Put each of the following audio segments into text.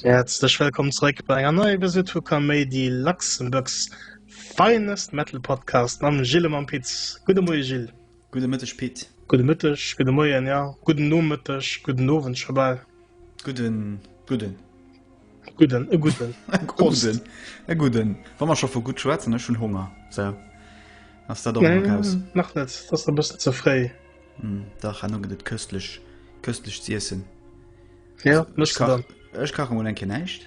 Herzlech wëllkomm zréck bei enger neie Visit vu Kaméidi Luxemburgs Finest Metal Podcast mam Gilles Mampitz. Gudde Moie Gilles. Gudde Mëtteg Pit. Gudde Mëtteg, gudde Moien, jo, gudden Nomëtteg, gudden Owend scho bal. Gudden, gudden. Gudden, e gudden. E gudden, e gudden. Wa mer scho vu gutt schwätzen, ech hunn Honger, sou ass dat och mol raus. Nee, nach net, et ass nach e bëssen ze fréi. Dach, elo gëtt et köstlich, köstlich z'iessen. Jo, méchs de dann. Ech kache mol eng Kéier näischt.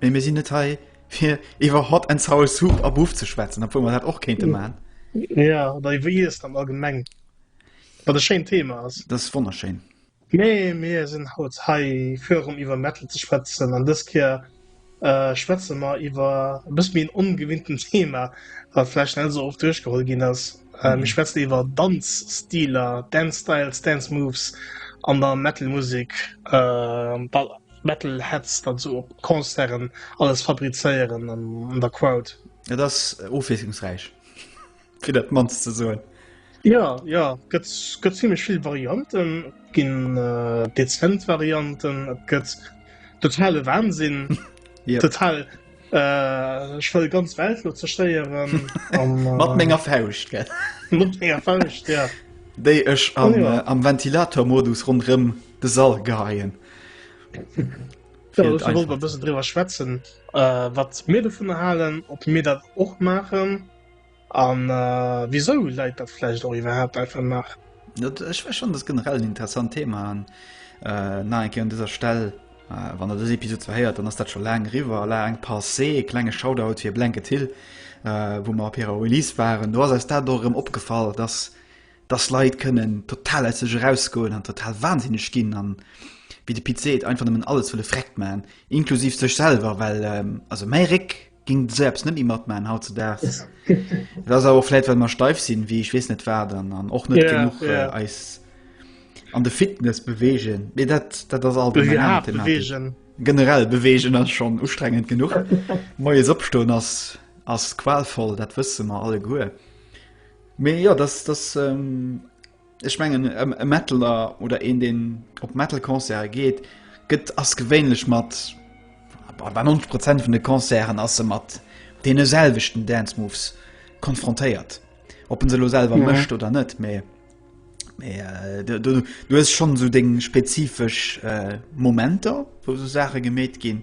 Mee mir sinn net hei fir iwwer Hot and Sour Soup a Buff ze schwätzen, obwuel man dat och kéinte man. Ja oder iwwer Iess am allgemeng. Wat e schéint Thema ass. Dat ass wonnerschéin. Mee mir sinn haut hei fir erëm iwwer Metal ze schwätzen an dës Kéier schwätze mer iwwer e bësse méi en ongewinnten Thema, wat vläicht net esou oft duerchgeholl ginn ass. Mir schwätzen iwwer Danzstiler, Dance Styles, Dance Moves an der Metal Musek. Metal Heads dann so op Concerten alles fabrizéieren an an der Crowd. Et ass ofwiesslungsräich fir dat mannst ze soen. Ja ja gëtt gëtt ziemlichlech vill Varianten ginn äh, dezent Varianten, et gëtt totale Wahnsinn ja. total Ech wëll ganz Welt lo zerstéieren. Mat menger Fauscht gell. Mat menger Fauscht ja. Déi ech am, oh, ja. äh, am Ventilatormodus ronderëm de Sall geheien. Wolwer bëssen driwer schwätzen, äh, wat mir vun erhalen, op mir dat och maachen. An wisou läit dat vläicht och iwwerhaapt einfach nach? Dat ech war schon dat generell en interessant Thema an äh, na enke an dëser Stell. Äh, wann er dës Episode verhéiert, dann ass dat scho laang riwer la eng passé e klenge Shoutout fir Blanket Hill, äh, wou mer op hirer Release waren. Do ass eis dat dorëm opgefall, dass dass Leit kënnen total aus sech erausgoen an total wahnsinneg ginn an wie de Pit seet einfach nëmmen alles wëlle freckt man, inklusiv sech selwer, well ähm, also méi Réck ging de Serbs net méi matmachen hautzedags. Et ass awer vläit well mer steif sinn, wéi ech weess net wat an an och net Ja, genug ja. äh, eis an de Fitness bewegen. Mee dat dat ass alt eng aner Thematik. bewegen. Generell bewegen ass schon ustrengend genug. Moies opstoen ass ass qualvoll, dat wësse mer alleguer. Mee ja, dass dass ähm, ech mengen e Metaler oder een den op Metalconcert geet, gëtt ass gewéinlech mat bei 90 Prozent vun de Concerten ass se mat dee selwechten Dancemoves konfrontéiert. Ob en se lo selwer ja. mëcht oder net méi. Äh, du, du, du hast schon so deng spezifesch äh, Momenter, wo so Sache gemet ginn.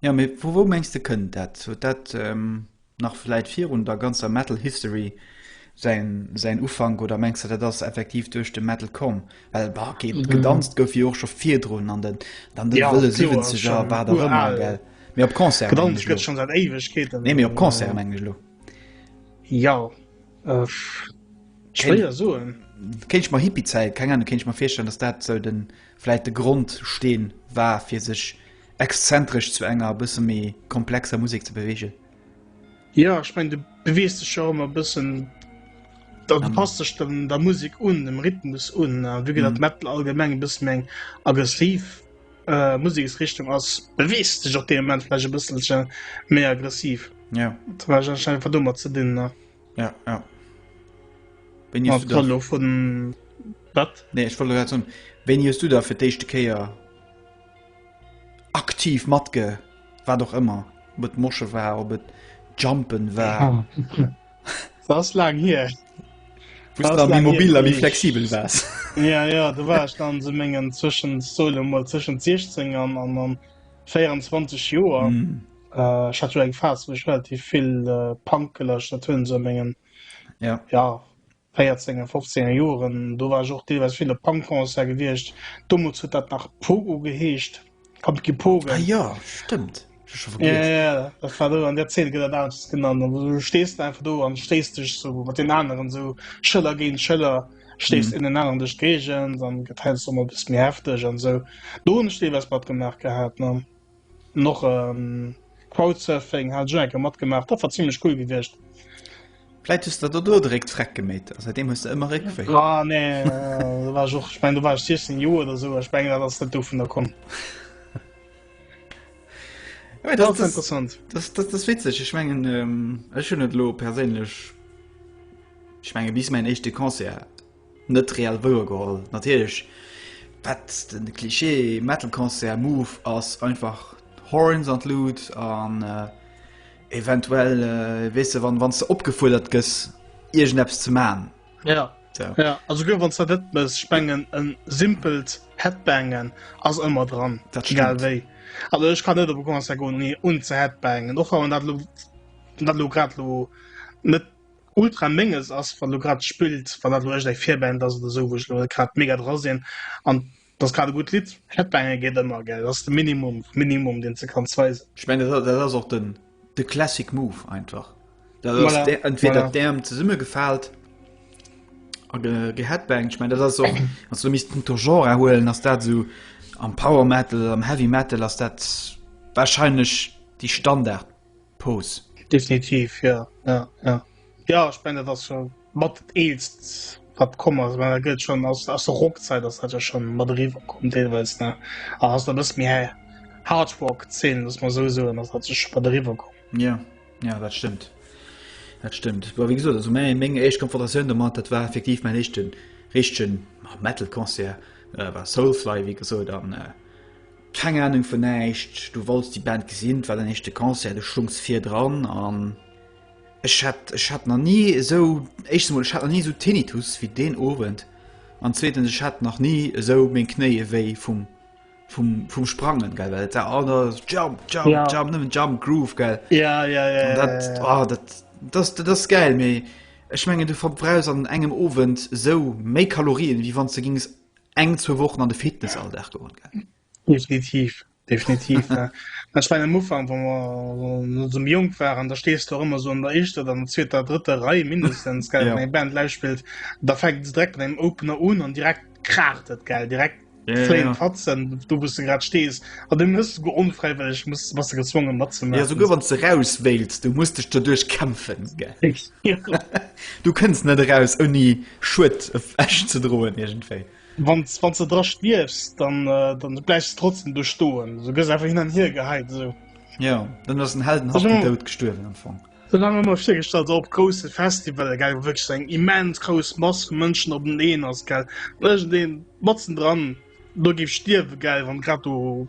Jo, mee vu wou mengs de kënnt dat? Huet dat nach vläit virun der ganzer Metal History säin Ufank oder mengs de dat ass effektiv duerch de Metal komm? Well bah, ok, gedanzt gouf jo och scho virdrun an den wëlle Siwwenzeger a wat och ëmmer, well? Mee op Concerten mengen ech elo. Nee, mee op Concerten mengen ech elo. Jo, schwéier soen. Kéint ech mer Hippiezäit, keng Ahnung, kéint ech mer virstellen, datt dat esou vläit de Grondsteen war fir sech. Exzentresch zu enger bësse méi komplexer Musek ze beweegen. Jo, ech mengen, du bewees dech jo och ëmmer e bëssen, da du passt dech dem der Musek un, dem Rhythmus un. An vu dat Metal allgemeng e bësse méi eng aggressiv Museksrichtung ass, bewees dech och dee Moment vläicht e bësselche méi aggressiv. Jo. Dat war anscheinend einfach domat ze dinn, ne? Ja, ja. Wéini hues du da. Elo vun. Wat? Nee, ech wollt elo grad soen, wéini hues du da fir d'éischte Kéier. aktiv matge wat och ëmmer mat mosche war op et jumpen war das lang hier mobil wie flexibel war ja ja du war dann so mengen zwischen solo mal zwischen 16 an an an 24 joer mm. äh, hat eng fa relativ viel äh, pankelech dat hunn so mengen ja ja Véierzenger, Fofzenger Joeren, do war ech och deelweis vill op Punk-Concert gewiescht. Domols huet dat nach Pogo geheescht, Pumpkin Pogen. Ah ja, stëmmt. Ja, ja, dat war do an der Zeen, gëtt dat aneschters genannt. An du stees de einfach do an stéiss dech sou mat den aneren sou Schëller géint Schëller, stéiss mhm. innen an dech géigent, an gëtt heiansdo mol e bëssi méi hefteg an sou. Do hunn ech deelweis matgemaach gehat, ne? Noch ähm, Crowdsurfing hat schon enke matgemacht, dat war ziemlich cool gewicht. Vläit hues der do dréck d'Freck geméit, a säitdeem hues de ëmmer Réckwéi. Ah, nee, äh, du warst och, ich mein, du warst 16 Joer oder so, ich meng, dat ass net do vun der komm. Ja, das, das, interessant. Das, das, das witzig ich mengen ähm, schon lo persinnlech ich menge bis mein echte Konzer Net reell wouer geholl natierlech, dat den Klischee Metal Concert Move ass einfach Horns an Luut an eventuell weess de wann wannste opgefuerdert gëss iergend eppes ze man. Jo jo also guer wanns dat net mëss, ech mengen en simpelt Headbangen ass ëmmer dran egal wéi, also ech kann net op e Concert goen ouni un ze Headbangen och wann dat lo grad lo net Ultra ménges ass wann do grad spillt, wann dat elo eischt eng Virband ass oder sou, wou ech elo net grad mega dra sinn an d'ass grad e gutt Lidd. Headbange geet ëmmer, gell, dat ass de Minimum vum Minimum deen s de kanns weisen. Ech mengen dat dat ass och de de classic move einfach, dat ass Voilà, de entweder voilà. d'Äerm zesumme gefaalt a ge geheadbanged. Ech mengen dat ass och, wann s de misst punkto Genre huelen, ass dat esou am Power Metal, am Heavy Metal ass dat wahrscheinlech déi Standard Pose. Definitiv jo, jo, jo. Jo ech meng dat ass jo mat dat eelst wat komm ass. Well dat gëtt schonn aus aus der Rockzäit ass dat jo schonn mat eriwwer komm deelweis, ne? A ass der bësse méi hä Hardrock Zeen, muss mer esou soen, ass dat sech scho mat eriwwer komm. Jo, jo dat stëmmt, dat stëmmt. Well wéi gesot, also mäi meng éischt Konfrontatioun domat, dat war effektiv mäin éischten richtegen Metal Concert, war Soulfly wéi gesot an, Keng Ahnung vun näischt, du wolls déi Band gesinn, et war den éischte Concert, du schungs vir dran an ech hat, ech hat nach ni esou, éischtens emol, ech hat nach ni esou Tinnitus wéi deen Owend an zweetens, ech hat nach ni esou meng Knéie wéi vum, vum, vum Sprangen, gell, well et war all da Jump, Jump, Ja. Jump, nëmmen Jump, Groove, gell. Ja, ja, ja, An ja, dat, ja, ja. oh, dat, dat, dat ass gäil, mee ech mengen, du verbrauchs an engem Owend esou méi Kalorien, wéi wann s de gings eng zwou Wochen an de Fitness all Dag goen gaangen. Definitiv definitiv ech mein am Ufang wa mer zum Jong waren, da stees du ëmmer so an der Eischter oder an der zweeter drëtter Rei mindestens gell ja. eng Band live spillt, da fängt se direkt an engem Opener un an direkt kracht et gell direkt ja, ja, ja. fatzen du bist du grad stees an du muss go onfreiwillig muss was du gezwungen mat ze ja, so wann ze raus wählst du musst dich dadurch kämpfen gell. Ich. Du kënns net eraus ouni Schued ewech ze droen iergendwéi. Wann wann se dra stierfs, dann äh, dann bleifs du trotzdem du stoen. Du gëss einfach hin an hier geheit so. Ja, dann ass den Helden hat den Dout gestuerwen am Fong. Dann haben immer virgestallt op grosse Festival ge wirklich eng immens groß Mass vu Mënschen op den Ehen ass gell den matzen dran do gif stierwe gell wann grad du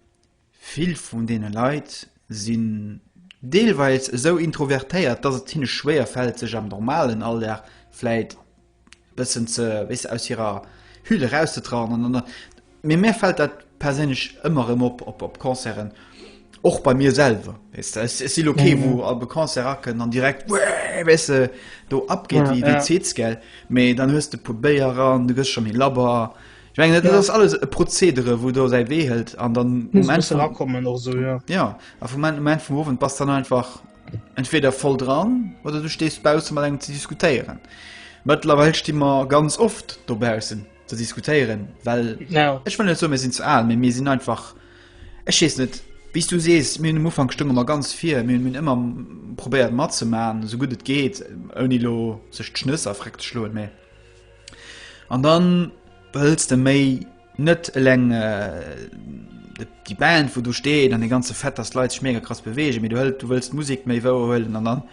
Vill vun deene Leit sinn deelweis esou introvertéiert, dass et hinne schwéier fält, sech am normalen Alldag vläicht e bëssen ze, weess de, aus hirer Hülle erauszetrauen an dann, mee mär fält dat perséinlech ëmmer erëm op, op, op Concerten, och bei mir selwer, weess de. Ech si lo kee wou op e Concert akënnt an direkt, wuehh, weess de, do abgeet wéi d'Zez, gell, mee dann hues de e puer Béier an du gëss scho méi labber. Ech mengen, dat ass alles e Prozedere, wou do säi Wee hëlt an dann um Enn vum, rakommen och so ja. Ja, a vum Enn, um Enn vum Owend bass dann einfach entweder voll dran oder du stees bausse mat engem ze diskutéieren. Mëttlerweil sti mer ganz oft dobaussen ze diskutéieren, well ja. ech wëll net so mir sinn ze al, mee mir sinn einfach ech wees net bis du sees mir um Ufang stëmme mer ganz vir mir hunn ëmmer probéiert matzemaen, sou gutt et geet, ouni lo sech d'Schnëss a Fréck ze schloen, mee. An dann behëls de méi net eleng déi Band wou do steet an de ganze Fett ass Leiit schmeger krass bewege, méi du hëlt du wëllst Musik méi wouer huelen an dann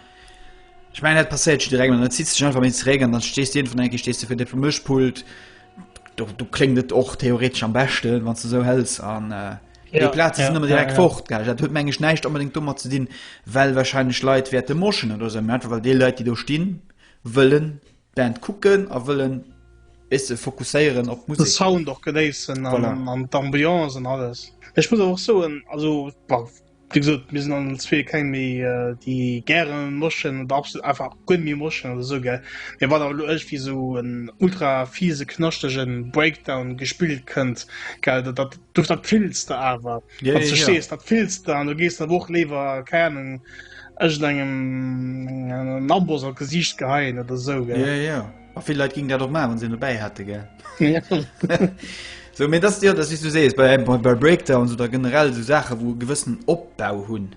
Ech mein dat passéiert schi regel net zit sech einfach méi zréck an dann stees dir vun enke stees du fir de vum Mëschpult do du kling et och theoretesch am beschte wann ze sou hëls an äh, ja, Platz ja, immer direkt ja, ja. fort dat huet mengg neicht unbedingt dummer ze dinn well wahrscheinlich Leiit wäerte moschen oder se so, einfach weil de Leiit die do stinn wëllen Band kucken a wëllen besse fokusséieren op d'Musek. De Sound och genéissen an d'Ambiance an alles. Ech muss awer och soen, also wéi gesot, mir sinn all zwee keng méi déi gäre moschen oder absolut einfach guer net méi moschen oder esou gell, mee wann awer elo iergendwéi esou en ultra fiese knaschtege Breakdown gespillt kënnt gell, dat do, dat fills de awer, wann s de stees, dat fills de an do gees de awer och léiwer, kei Ahnung, Ech engem Nambos a Gesicht geheien oder sou ge. Ja, ja. A vill Leiit ginn dat och ma wann sinn dobäi hätte ge. So mé dat Dir dat is du sees bei bei Breakdowns oder generell so Sache wou gewëssen opbau hunn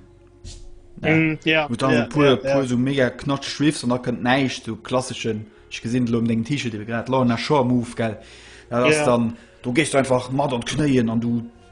mm, ja, ja, ja, pu ja, ja. so mega knatsch schwifs an da kënnt neiicht du klasseschen ich gesinn lo um deng Tische de grad la nach Scho move gell ja, dann du gest einfach mat an knéien an du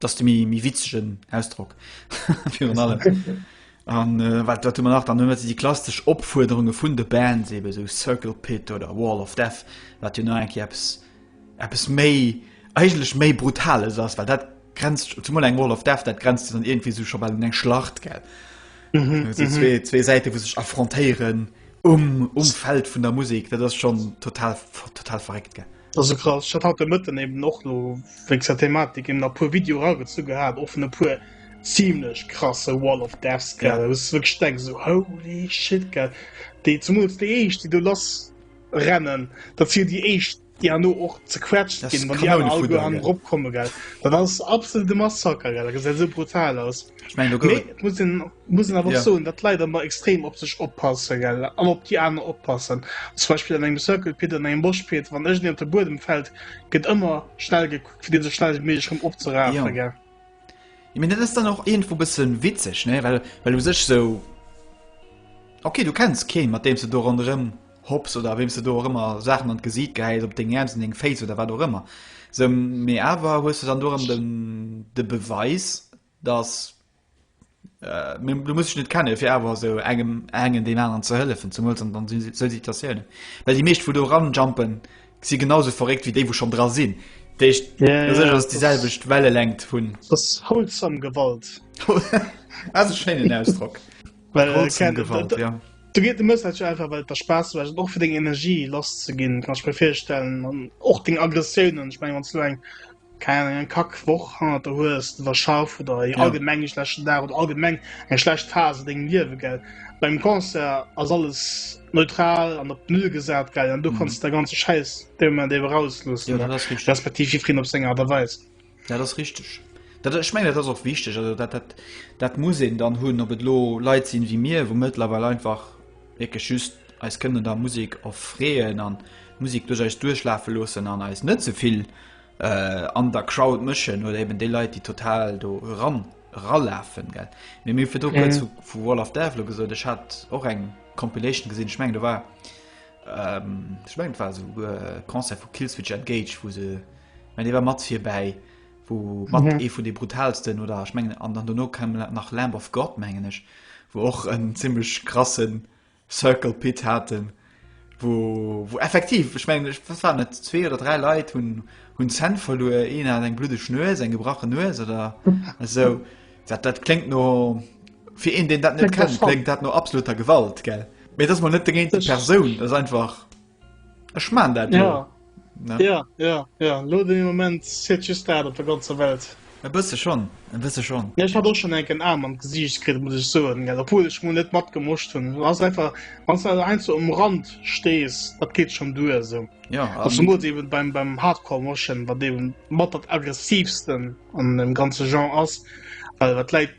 dass du mir mi witzegen ausdruck für allem an äh, wat wat man nach dann huet die klassisch opfuerderunge vun de band sebe so circle pit oder wall of death wat du nach apps apps méi eigenlech méi brutales ass weil dat grenzt zum eng wall of death dat grenzt dann irgendwie so schon mal eng schlacht gell mm -hmm, mm -hmm. zwei, zwei seite wo sich affrontieren um umfeld vun der musik dat das schon total total verregt gell Also krass, hat hat de Mëtten eben och no wéinst der Thematik eben a puer Video ragezu gehat, och vun e puer ziemlech krasse Wall of Deaths gell, ja. wëss wëg steng so holy shit gell. Déi zumools déi eescht, déi do lass rennen, dat si déi eescht déi an no och zequetscht ginn, wann déi aner all go an Rob komme gell. Dat ass absolute Massaker gell, dat gesäit sou brutal aus. Ich mein, du muss den. muss awer ja. so dat leider immer extrem op sech oppasse gell an op die an oppassen zum Beispiel an engem Circle Pi an engem Bosch Pi wann ech op der Boden fällt gëtt immer schnell gekuckt fir den so schnell mé schon opzeraen ja. gell ich mein, ist dann auch irgendwo bisschen witzig ne weil weil du sech so okay du kennst Ke mat dem du do rondrem hops oder wem du do immer Sachen an gesieht geil op den ernst den Face oder war doch immer so mir aber hust du dann du den de Beweis dass du Mir, du muss ech net kennen, fir awer esou engem engen deen aneren ze hëllefen, zemools an an si- si- sou Situatiounen. Well déi meescht, wou do ranjumpen, si genausou verréckt wéi déi, wou schonn dra sinn. Dat heescht, Ja, fir sech ja, ass déi das- selwecht Wellelängt vun. Dass wholesome Gewalt. Ass e schéinen Ausdrock. Well, äh, Wholesome Ken, Gewalt, da- ja. Do geet de Message einfach, well et der Spaass mécht, och fir deng Energie lasszeginn, kann ech mir virstellen, an och deng Aggressiounen. Ech meng, wann s du eng keng Ahnung, eng kack Woch hannert der hues, de war schaff oder eng allgemeng e schlechten Dag oder allgemeng eng schlecht Phas an dengem Liewe, gell. Beim Concert ass alles neutral an op Null gesat, gell, an du mhm. kanns der ganze Schäiss dee Moment ewer rausloossen, ja, respektiv jiddwereen op seng Art a Weis. Ja, dat ass richteg. Dat, ich mein, dat ass och wichteg, also dat, dat, dat muss een dann hunn, op et lo Leit sinn wéi mir, wou mëttlerweil einfach wierklech just eis kënnen der Musek erfreeën an d'Musek duerch eis duerchlafe loossen an eis net ze vill an der Crowd mëschen oder eben déi Leit, déi total do eran eralafen. Mir hunn fir do kuerz vu Wall of Death elo gesot, ech hat och eng Compilation gesinn, ech meng do war ech meng et war esouguer e Concert vu Killswitch Engage, wou se, mä dee war mat virbäi. wou mat mhm. ee vun de brutalsten oder ech mengen an dann no kann nach Lamb of Gott mengen ech wo och en ziemlich krassen Circle Pit hatten wo, wo effektiv ich mein, ich, was waren zwei oder drei Lei hun hun Cent verlor een hat eng blute schnur sein gebrochen nur oder also dat, dat klingt nur für een den dat net kennt klingt dat nur absoluter Gewalt gell mir das man net dagegen Person das einfach Ech man dat jo. Ja, ja, ja, ja. Lo de Moment seet just dat op der ganzer Welt. E bësse schonn, e bësse schonn. Ja, ech hat och schonn enken Aarm an d'Gesiicht kritt, muss ech soen, gell, obwuel ech mol net matgemoscht hunn. Et ass einfach, wann s du einfach einzel um Rand stees, dat geet schonn duer esou. Ja, a Also mol eben beim, beim Hardcore-Moschen, wat eben mat dat aggressivsten an dem ganze Genre ass, well wat d'Leit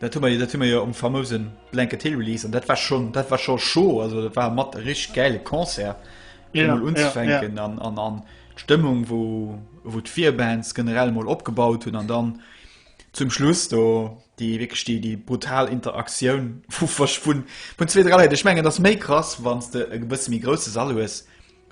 Dat hu mer jo, dat hu mer jo um famousen Blanket Hill Release an dat war schonn, dat war scho scho, also dat war mat e rich gäile Concert fir mol unzefänken an an an d'Stëmmung wou wou d'Vier Bands generell mol opgebaut hunn an dann zum Schluss do déi wéckeg déi déi brutal Interaktioun vu verschwun vun zwee dräi Leit. Ech mengen et ass méi krass, wann s de e bësse méi grousse Sall hues.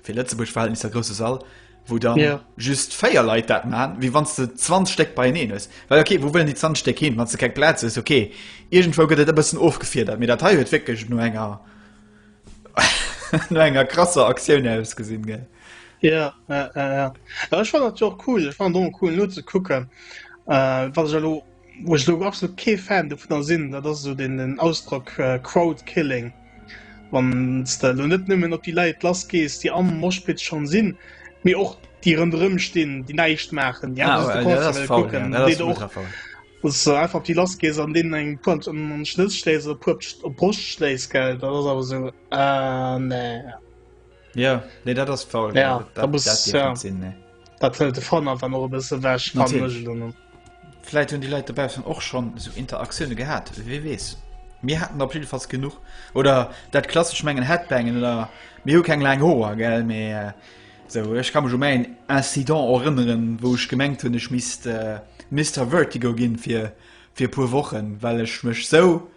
fir Lëtzebuerg Verhältnisser grouse Sall, wou dann yeah. just féier Leiit dat man, wie wann ze 20 Steck bei eneen ass. Well okay, wo wëllen die 20 Steck hin, wann ze keng Plaz ass, okay. Irgendwo gëtt et e bëssen ofgefiedert, mir dat hei huet wéckeg no enger no enger krasser Aktioun aus gesinn gell. Ja, ja, ja, ja. ja ich fand dat jo cool, ich fand do cool no ze kucken äh, wat ech lo woch lo absolut kee Fan du vun der sinn, dat ass so den den Ausdruck äh, Crowdkilling. Wanns de elo net nëmmen op déi Leit lass gees déi am Moshpit schon sin, mee och déi rënderëm stinn déi näischt maachen, déi einfach de Concert wëllen kucken, an déi och, wanns de einfach op déi lass gees an deenen eng puer an d'Schnëss schléis oder puer op d'Broscht schléis, gell, dat ass awer esou, ah nee. Ja, nee, dat ass faul. Ja, dat, dat, muss, dat, ja. Sinn, nee. dat fëllt de Fan einfach noch e bësse wäch. Vläit hunn déi Leit dobaussen och schon so Interaktioune gehat, wie wees. Mir hatten op jidefalls genug oder dat klasg menggen Headbangen oder mir hu keng laang Hoer gell méi. Äh, So, ich kann mich um ein Incident erinnern, wo ich gemengt hun ich miss äh, Mister Vertigo gin fir fir pur Wochen, well ich mech so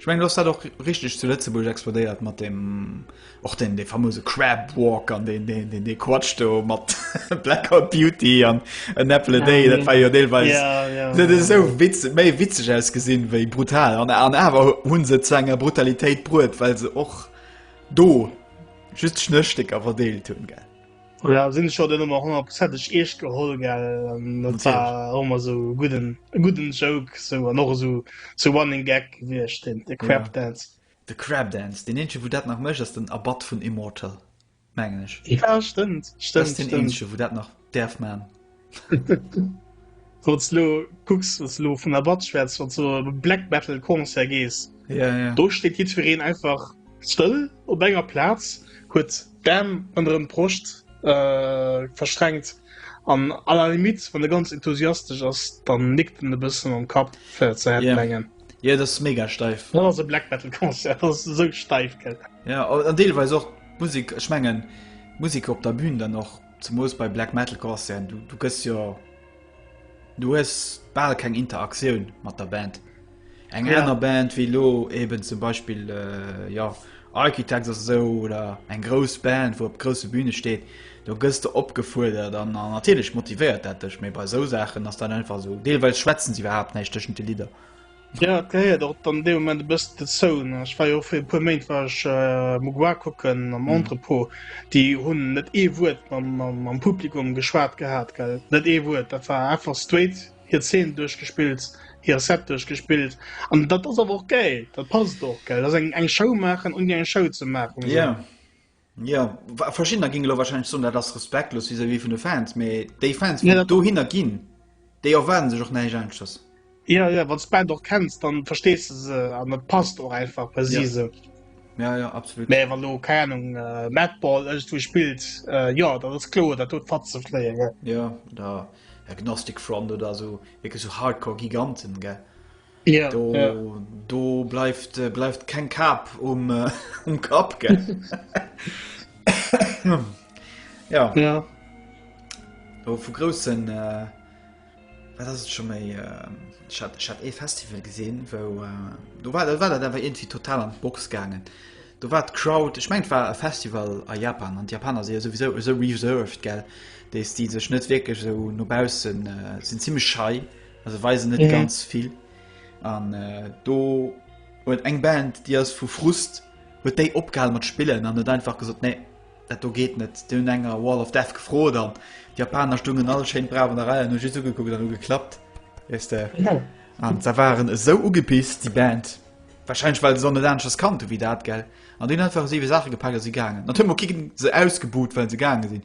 Ech mengen, do ass dat och richteg zu Lëtzebuerg explodéiert mat dem och den de famose Crabwalk an den den den de Quatsch do mat Blackout Beauty an en Apple a Day, dat war jo deelweis dat ass esou witz méi witzeg ausgesinn wéi brutal an an awer hunn se zu enger Brutalitéit bruet, well se och do just Schnësstécker verdeelt hunn gell. Ja, sinn ech den ëmmer 100 Prozentg Iech geholl gell Dat war ëmmer so gudden gudden Joke sou an och sou zu Running Gag wiecht den de Crapdance. De Crapdance den eenzege wou dat nach mécht ass den Abbatt vun Immortal mengen ech. Ja stëmmt stëmmt stëmmt. Dat ass den eenzege wou dat nach däerf man. Wats lo kucks wats lo vun der Batsch wats wats du op e Black Metal Concert gees. Ja ja. Do steet jiddwereen einfach stëll op enger Plaz, huet d'Aarm ënnerem Broscht verschränkt an à la limite wann e ganz enthusiastesch ass dann nickt en e bëssen mam Kapp fir ze headbangen. Yeah. Jo dat ass mega steif. Dat ass e Black Metal Concert, dat ass esou steif gell. Ja an deelweis och d'Musik, ech mengen d'Musik op der Bühn dann och. Zu Moos bei Black Metal Concerten, du, du gëss jo. Du hues bal keng Interaktioun mat der Band. Eng ja. enner Band wéi lo eben zum Beispiel äh, ja, Architects oder so oder eng grouss Band, wo op grosse Bühne steet, do gëss de opgefuerdert an natierlech motivéiert dat dech, méi bei sou Saachen ass dann einfach so. Deelweis schwätzen se iwwerhaapt näischt tëschent de Lidder. Jo et gehéiert och dann dee Moment e bëssen dozou ne. Ech war jo och fir e puer Méint war ech äh, Mugua kucken am mhm. Entrepot. Déi hunn net ee Wuert mam, mam, mam Publikum geschwat gehat gell. Net ee Wuert, dat war einfach straight hir Zeen duerchgespillt, hir Set duerchgespillt. An dat ass awer och geil, dat passt och geil. Dat eng eng Show maachen un eng Show ze maachen. Ja. Yeah. Jo, verschiddener ginn elo wahrscheinlech soen, dat ass respektlos vis-à-vis vun de Fans, mee déi Fans, déi ja, dohinner ginn, déi erwaarden sech och näischt aneschters. Ja, ja, wann du d'Band och kenns, dann verstees du se an dat passt och einfach bei si se. Ja, ja, absolut. Mee wann du, keine Ahnung, äh, Madball ëngstwou spillt, äh, ja, dat ass kloer, dat huet Fatze fléien, gell? Ja, oder Agnostic Front oder esou, wierklech esou Hardcore-Giganten, gell? Yeah, do, yeah. do bleift äh, bleift kein Kap um, äh, um Kap ge ja. ja. Oh, vu großen äh, schon mal, äh, ich hat, ich hat e Festival gesehen wo äh, du war war da war irgendwie total an Box gegangen du war crowd ich mein war Festival a Japan und Japaner sie sowieso so reserved gell die die sich nicht wirklich so nurbausen äh, sind ziemlich schei und Also weisen net ganz vill an äh, do huet eng Band die as vu Frust huet déi opgehal mat spillen an net einfach gesot nee dat do geht net du enger Wall of Death gefro dann die Japaner stungen all Schein bra der Reihe nu just ugekuckt an geklappt weißt du? ja. an da waren eso ugepist die Band wahrscheinlich weil so dansches kannte wie dat gell an den einfach sie Sache gepackt sie gangen dann kicken se ausgebot weil sie gangen sind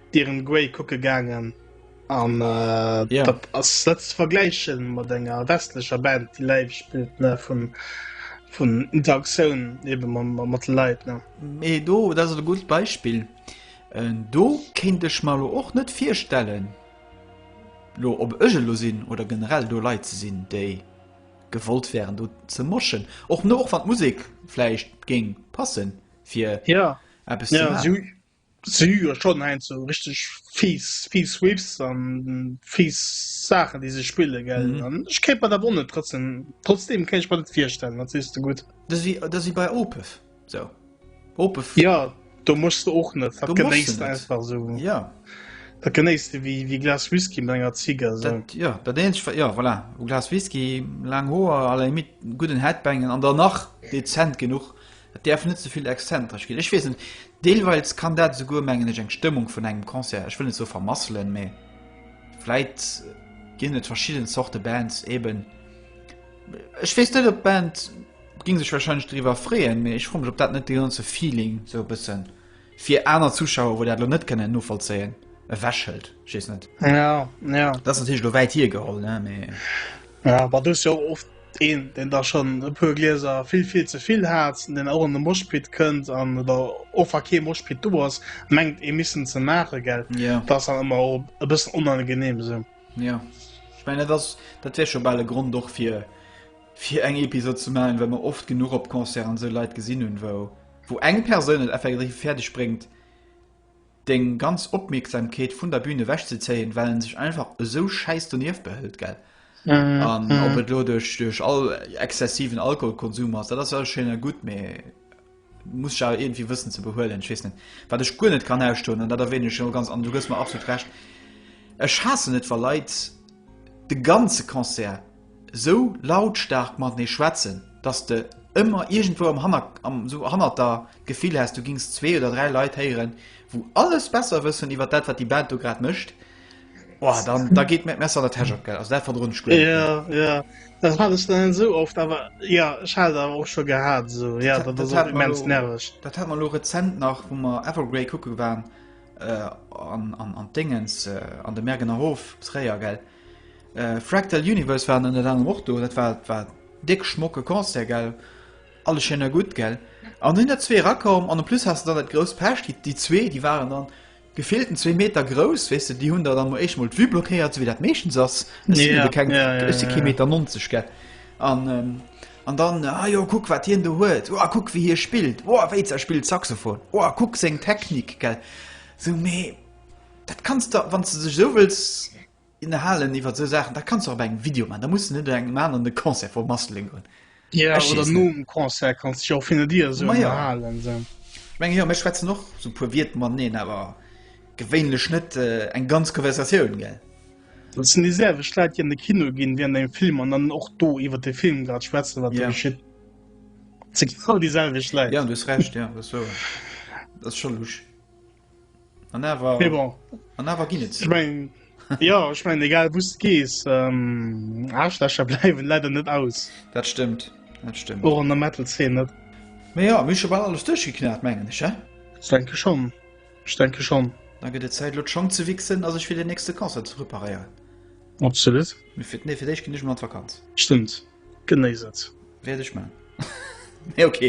Dorian Gray kucke gaangen. An yeah. dat ass net ze vergläichen mat enger westlecher Band, déi live spielt ne vun vun Interaktioun ebe mat Leiit ne. Mee do dat ass e gutes Beispill. Äh, do kéint ech mal lo och net virstellen lo op ëge lo sinn oder generell do Leiit ze sinn, déi gewollt wären do ze moschen. Och no och wat Musik fleischicht géng passen fir ja. Eppes ja. Si hu jo schonn heiansdo richteg fiiss, fiiss Riffs an fiiss Saachen, déi se spillen, gell? Mhm. An ech kéint mer dat och net trotzdem, trotzdem kéint ech mer net virstellen, dat sees de gutt. Dat ass wéi, dat ass wéi bei Opeth. So. Opeth. Ja, do mussst de och net, dat genéiss de einfach esou. Ja. Dat genéiss de wéi, wéi e Glas Whisky mat enger Zigar, esou. Dat, ja, dat eenzeg, wa- ja, voilà, e Glas Whisky, laang Hoer, à la limite gudden Headbangen an dann nach dezent genuch, Et däerf net ze vill exzentresch ginn. Ech weess net, deelweils kann dat esouguer, mengen ech, eng Stëmmung vun engem Concert, ech wëll net soe vermasselen, mä vläit ginn et verschidden Zorte Bands eben, ech weess net, ob d'Band gi sech wahrscheinlech driwwer freeën, mä ech froe mech, ob dat net de ganze Feeling esou e bëssen. Fir aner Zuschauer wou dat lo net kënnen novollzéien, e Wäschhëld, ech weess net. Ja, ja. Dat ass natierlech lo wäit hiergeholl, ne, mee. Ja, bah, do ass jo och oft een, deen da schonn e puer Glieser vill, vill ze vill hat, deen och an de Moshpit kënnt an oder och wa kee Moshpit do ass, mengt ee missen ze maachen, gell? Ja. Dat ass dann ëmmer och e bëssen onangenehm esou. Ja. Ech mengen, dat ass, dat wär scho bal e Grond och fir, fir eng Episod ze maachen, well mer oft genuch op Concert an esou Leit gesinn hunn, wou. wou eng Persoun et effektiv fäerdeg bréngt, deng ganz Opmierksamkeet vun der Bühn ewech ze zéien, well en sech einfach esou schäiss donieft behëlt, gell? An ob et elo duerch, duerch all exzessiven Alkoholkonsum ass, dat ass alles schéin a gutt, mee muss sech awer iergendwéi wëssen ze behuelen. Ech weess net, wat ech guer net kann ausstoen, an dat erwänen ech elo ganz, an du gëss mer absolut Recht, ech haassen et, wa Leit de ganze Concert esou lautstaark matenee schwätzen, dass de ëmmer iergendwou am Hanner, am esou hannert der, d'Gefill häss, du gings zwee oder dräi Leit héieren, wou alles besser wëssen iwwert dat, wat déi Band do grad mécht, oh, da, da geet mir d'Messer an der Täsch op, gell. Also dat verdroen ech guer net méi. Jo, jo, dat hat ech dann esou oft, awer jo, ech hat et awer och scho gehat esou, jo, dat ass och immens nerveg. Dat hate mer elo rezent nach, wou mer Evergrey kucke waren an, an, an d'Déngens, an de Mergener Hof, Tréier, gell. Fractal Universe waren ënnert anerem och do, dat war war déck schmocke Concert, gell? Alles schéin a gutt, gell? An do sinn der zwee erakomm an en plus has de dann dat grousst Pech, déi déi zwee, déi waren dann gefillten zwee Meter grouss, weess de, déi hunn der dann emol éischt emol d'Vue blockéiert, sou wéi dat meeschtens ass, ech sinn jo de keng, ech si kee Meter 90, gell? An an dann, ah jo, kuck wat hien do huet, oh kuck wéi hie spillt, oh wéit's a spillt Saxophon, oh kuck seng Technik, gell? Sou, mee. Dat kanns de, wann s de dech esou wëlls ënnerhalen iwwer esou Saachen, da kanns de och bei engem Video man. Da muss de net engem aneren de Concert vermasselen goen. Ja, Ech oder weess net. nom Concert kanns dech och fir dir esou Maja. ënnerhalen. Esou. Ech mengen, jo, mir schwätzen och esou e puer Wierder mateneen, awer gewéinlech net äh, eng ganz Konversatioun, gell? Dat sinn déi selwecht Leit, déi an de Kino ginn wärend engem Film an dann och do iwwer de Film grad schwätzen, wat do Ja. geschitt. Dat si genau déi selwecht Leit. Ja, du hues Recht, ja, dat ass wouer. Dat ass scho lusch. An awer, nee, bon. an awer ginn et. Ich mein, ja, ich mein, egal wus gees ähm, Aschlächer bleiwen leider net aus. Dat stimmt dat stimmt. Oh, an der Metal 10 net. Me ja mische war alles duchgeknat mengen ich ja? denke schon ich denke schon da gët et Zeit lo schon ze wichsen as ich fir den nächste Konzer ze reparieren. Absolut. Mir fir nee, fir déich ginn ich mat Vakanz. Stimmt. Genéiss et. Wäert ech man. Mee ok.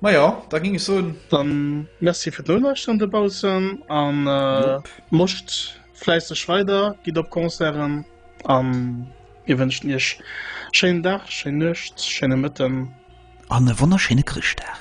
Ma jo, da ging ech soen. Dann merci fir d'Noulauschteren dobaussen an moscht fläisseg weider, gitt op Concerten an mir wënschen iech schéinen Dag, schéin Nuecht, schéine Mëtten. An e wonnerschéine Chrëschtdag.